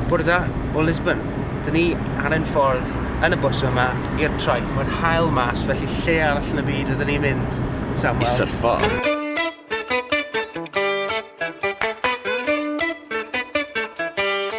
Bore da o Lisbon. Dyn ni ar ein ffordd yn y bws yma i'r traeth. Mae'r hael mas, felly lle arall yn y byd ydyn ni'n mynd, Samuel? I syrffo.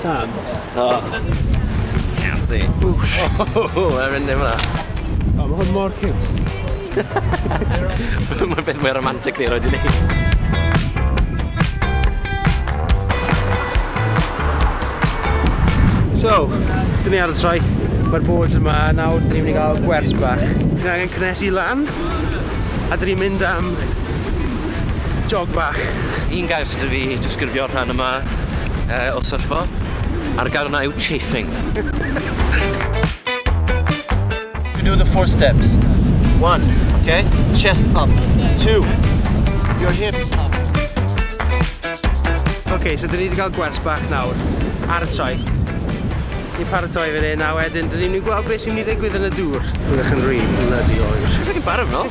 Sam. O. Carddi. Whoosh. O, mae'n mynd efo. O, mae hwn mor cute. Mae'n beth mwy romantic ni roed i ni. So, dyn ni ar y traeth, mae'r boards yma, nawr dyn ni'n mynd i gael gwers bach. Dyn ni angen cynnesu lan, a dyn ni'n mynd am jog bach. Un gair sydd wedi disgrifio'r rhan yma Yy o syrffo. A'r gair yna yw chafing. You do the four steps. One, okay? Chest up. Two, your hips up. Ok, so dyn ni wedi cael gwers bach nawr ar y traeth. Ni'n paratoi fe hyn, a wedyn dyn ni'n mynd i gweld beth sy'n mynd i ddigwydd yn y dŵr. Byddwch yn rili bloody oer. Dwi'n barod fel.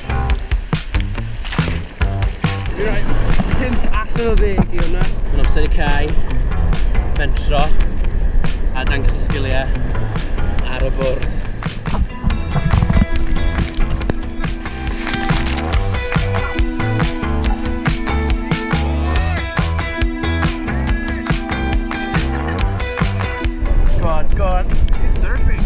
Allan o ddeg i hwnna. Mae'n amser i cau, mentro, a dangos y sgiliau ar y bwrdd. Go on, go on. He's surfing!